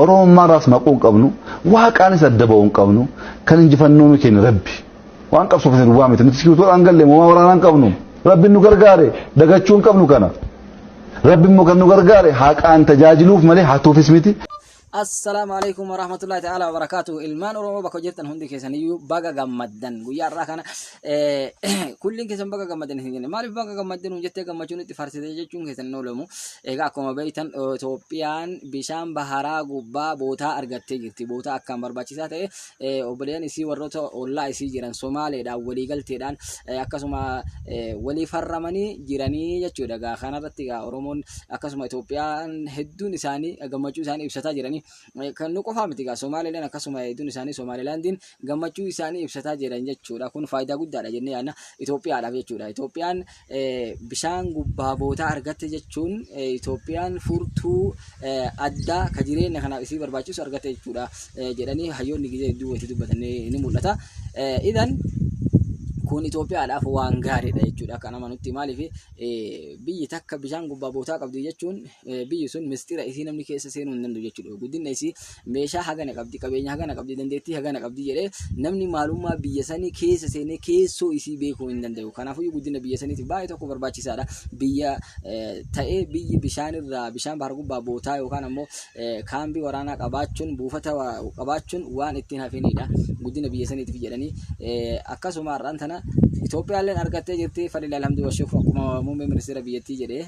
Oromoon maaraas maquu hin qabnu, waaqaanis adda ba'uu hin qabnu, kan injifannoo nu kenne Rabbi. Waan qabsoofne duwwaa miti, nuti sikiitoodhaan galle moomaa waraanaa hin qabnu. Rabbi nu gargaare dagachuu hin qabnu kana. Rabbi immoo kan nu gargaare haqaan tajaajiluuf malee hatuufis miti. Assalaamu alaikum warahmatullahi ta'ala wabarakaatu. Ilmaan Oromoo bakka jirtan hundi keessaniyyuu baga gammaddan. Guyyaa har'aa kana kulliin keessan baga gammaddan isin jenna. Maaliif baga gammaddan nuun jettee gammachuun itti farsitee jechuun keessan hin oolamu. Egaa akkuma beektan Itoophiyaan bishaan baharaa gubbaa bootaa argattee jirti. Bootaa akkaan barbaachisaa ta'e obboleen isii warroota ollaa isii jiran Somaaleedhaan waliigalteedhaan akkasuma walii farramanii jiranii jechuudha. Egaa kanarratti egaa Oromoon akkasuma Itoophiyaan hedduun isaanii gammachuu isaanii ibsataa jiranii. kan nu qofaa miti egaa Somaaliileen akkasuma hedduun isaanii Somaaliilaandiin gammachuu isaanii ibsataa jiran jechuudha. Kun faayidaa guddaadha jennee yaadna Itoophiyaadhaaf jechuudha. Itoophiyaan bishaan gubbaa bootaa argatte jechuun Itoophiyaan furtuu addaa ka jireenya kanaaf isii barbaachisu argatte jechuudha jedhanii hayyoonni gizee hedduu wanti dubbatan ni mul'ata. Idan kun Itoophiyaadhaaf waan gaariidha jechuudha akka nama nutti maaliif biyyi takka bishaan gubbaa bootaa qabdi jechuun biyyi sun mistira isii namni keessa seenuu hin danda'u jechuudha. Guddina isii meeshaa hagana qabdi, qabeenya hagana qabdi, dandeettii hagana qabdi jedhee namni maalummaa biyya sanii keessa seenee keessoo isii beekuu hin danda'u. Kanaafuu guddina biyya saniitiif baay'ee tokko barbaachisaadha. Biyya ta'ee biyyi bishaan irraa bishaan bahar gubbaa bootaa yookaan ammoo kaambii waraanaa qabaachuun buufata qabaachuun waan ittiin hafiniidha. Guddina biyya saniitiif jedhanii akkasuma har'aan tana Itoophiyaalleen argattee jirti. Fadhila alhamdulillah akkuma muummee ministeera biyyattii jedhee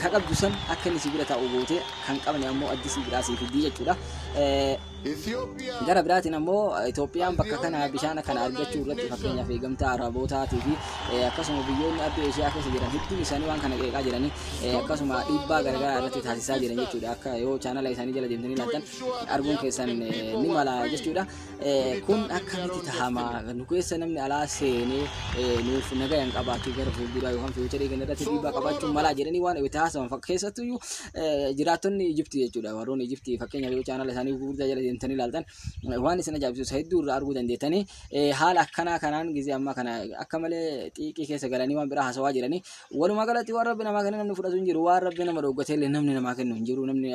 Ka qabdu san akka inni si bira taa'u gootee kan qabne ammoo addi si biraa sii fiddii jechuudha. Gara biraatiin ammoo Itoophiyaan bakka kana bishaan kana argachuu irratti fakkeenyaaf eegamtaa Arabootaatii fi akkasuma biyyoonni adda Eeshiyaa keessa jiran hedduun isaanii waan kana qeeqaa jiranii akkasuma dhiibbaa garaagaraa irratti taasisaa jiran jechuudha. Akka yoo chaanala isaanii jala deemtanii ilaaltan arguun keessan ni mala jechuudha. kun akkamitti tahama nu keessa namni alaa seenee nuuf nagaa hin qabaatu gara fuulduraa yookaan fiicharii kana irratti dhiibbaa qabaachuun malaa jedhanii waan itti haasawan keessattuu iyyuu jiraattonni Ijiptii jechuudha warroonni Ijiptii fakkeenyaaf yoo chaanala isaanii gurguddaa jala deemtanii ilaaltan waan isin ajaa'ibsiisu hedduu irraa arguu dandeettanii haala akkanaa kanaan gizee ammaa kana akka malee xiiqii keessa galanii waan biraa haasawaa jiranii Walumaa galatti waan rabbi namaa kenne namni fudhatu hin jiru waan rabbi nama dhooggate illee namni namaa kennu hin jiru namni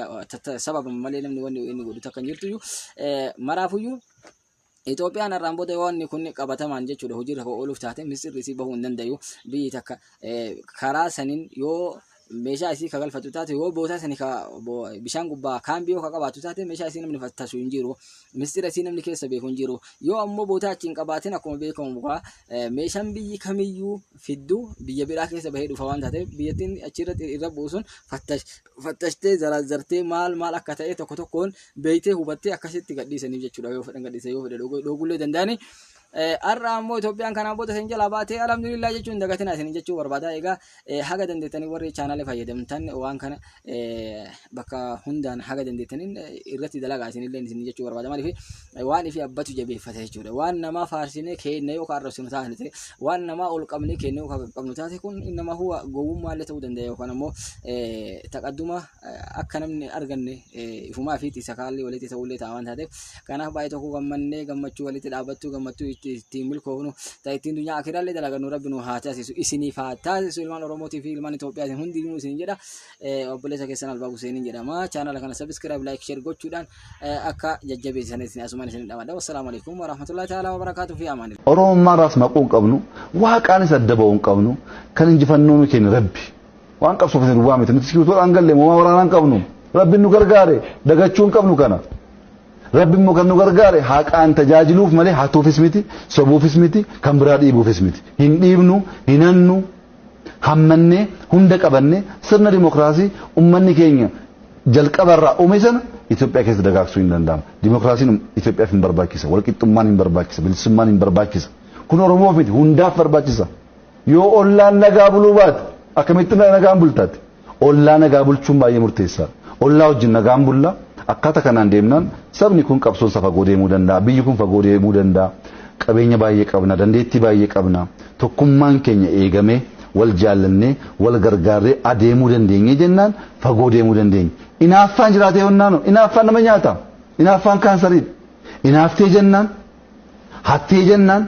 sababa malee namni wanni inni godhu takka hin jirtu maraafuyyuu Itoophiyaan har'aan booda wanni kun qabatamaan jechuudha hojiirra kan ooluuf taate misirri isii bahuu hin dandayu biyyi takka karaa saniin yoo meeshaa isii ka galfatu taate yoo bootaa sani ka bishaan gubbaa kaan biyoo ka qabaatu taate meeshaa isii namni fattasu hin jiru mistira isii namni keessa beeku hin jiru yoo ammoo bootaa achi hin qabaatin akkuma beekamu kaa meeshaan biyyi kamiyyuu fiddu biyya biraa keessa bahee dhufa waan taateef biyyattiin achirratti irra buusuun fattashtee zaraazzartee maal maal akka ta'e tokko tokkoon beeytee hubattee akkasitti gadhiisaniif jechuudha yoo fedhan gadhiisan yoo fedhe dhoogullee danda'ani. Har'a ammoo Itoophiyaan kanaan booda isin jalaa baatee alhamdulillah jechuun dagatina isin jechuu barbaada. Egaa haga dandeettanii warri chaanalee fayyadamtan waan kana bakka hundaan haga dandeettaniin irratti dalagaa isinillee isin jechuu barbaada maaliif waan ifi abbatu jabeeffata jechuudha waan namaa faarsinee keenya yoo kan arrabsinu taate ta'e waan namaa ol qabnee keenya yoo kan qabnu taate kun nama huwa gowwummaallee ta'uu danda'a yookaan ammoo taqadduma akka namni arganne ifumaa fi isa kaallee walitti ta'ullee ta'a waan taateef kanaaf baay'ee tokko gammannee gammachuu walitti dhaabbattuu gammachuu ittiin milkoofnu ta'e ittiin dunyaa akiraallee dalagannu rabbi nu haa taasisu isiniif haa taasisu ilmaan oromootii fi ilmaan Itoophiyaatiin hundinuu isin jedha Eh, obboleessa keessan Albaa Huseeniin jedhama. Chaanala kana subscribe, like, share gochuudhaan eh, akka jajjabeessan isin asumaan isin dhamadha. Wassalaamu alaikum warahmatullahi ta'ala wabarakaatuh fi amaanillah. Oromummaa irraas maquu hin qabnu, waaqaanis adda ba'uu hin qabnu, kan injifannoo nu kenne Rabbi. Waan qabsoo keessa duwwaa miti, nuti sibiitoodhaan galle moomaa waraanaa hin qabnu. Rabbi nu gargaare, dagachuu hin qabnu kana. Rabbi immoo kan nu gargaare haqaan tajaajiluuf malee hatuufis miti, sobuufis miti, kan biraa dhiibuufis miti. Hin dhiibnu, hin hannu, hammannee hunda qabannee sirna dimokiraasii ummanni keenya jalqabarraa uume sana Itoophiyaa keessa dagaagsuu hin danda'amu. Dimokiraasiin Itoophiyaaf hin barbaachisa. Walqixxummaan hin barbaachisa. Bilisummaan hin barbaachisa. Kun Oromoof miti hundaaf barbaachisa. Yoo ollaan nagaa buluu baate akkamitti nagaan bultaati? Ollaa nagaa bulchuun baay'ee murteessaadha. Ollaa wajjin nagaan bulla, akkaata kanaan deemnaan sabni kun qabsoon isaa fagoo deemuu danda'a, biyyi kun fagoo deemuu danda'a, qabeenya baay'ee qabna, dandeettii baay'ee qabna, tokkummaan keenya eegamee, wal jaallannee, wal gargaarree adeemuu dandeenye jennaan fagoo deemuu dandeenya. Inaaffaan jiraatee honnaan hoo? Inaaffaan nama nyaata. Inaaffaan kaansariidha. Inaaftee jennaan, hattee jennaan.